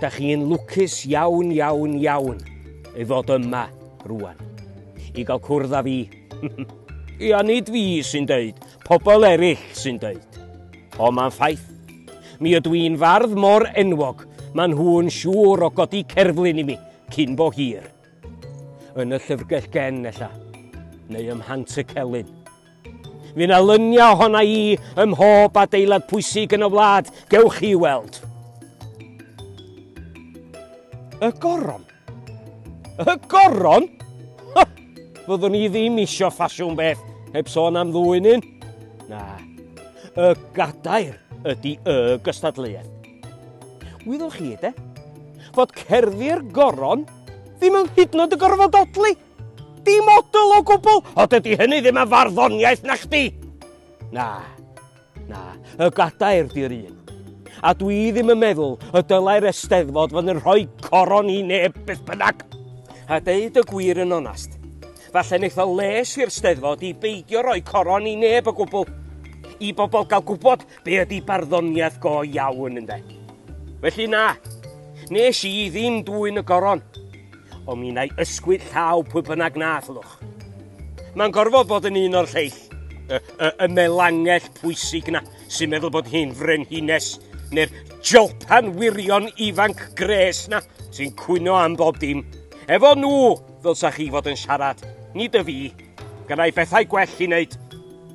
Dach chi'n lwcus iawn, iawn, iawn ei fod yma rwan. I gael cwrdd â fi. Ia, nid fi sy'n deud, pobl eraill sy'n deud. O, mae'n ffaith. Mi ydw i'n fardd mor enwog, maen nhw'n siŵr o godi cerflun i mi, cyn bo hir. Yn y llyfrgell gen, ella, neu ym Mhant y Celyn. Fydd na luniau ohona i ym mhob adeilad pwysig yn y wlad, gewch chi weld. Y goron? Y goron? Ha! Fyddwn i ddim isio ffasiwn beth, heb sôn am ddwy'n un. Na, y gadair ydy y gystadleuaeth. Wyddwch chi, de, fod cerddi'r goron ddim yn hyd yn oed y gorfod odli. Dim model o gwbl! O, dydy hynny ddim yn farddoniaeth na chdi! Na, na, y gadair di'r un. A dwi ddim yn meddwl y dylai'r Eisteddfod fod yn rhoi coron i neb beth bynnag. A deud y gwir yn onast, falle wneith o les i'r Steddfod i beidio rhoi coron i neb o gwbl. I bobl gael gwybod Be ydi barddoniaeth go iawn, ynde? Felly na, nes i ddim dwyn y goron, ond mi na'i ysgwyd llaw pwy bynnag na allwch. Mae'n gorfod bod yn un o'r lleill, y, y, y melangell pwysig na, sy'n meddwl bod hi'n frenhines, neu'r jolpan wirion ifanc gres na, sy'n cwyno am bob dim. Efo nhw, ddylsa chi fod yn siarad, nid y fi. Gannau bethau gwell i wneud.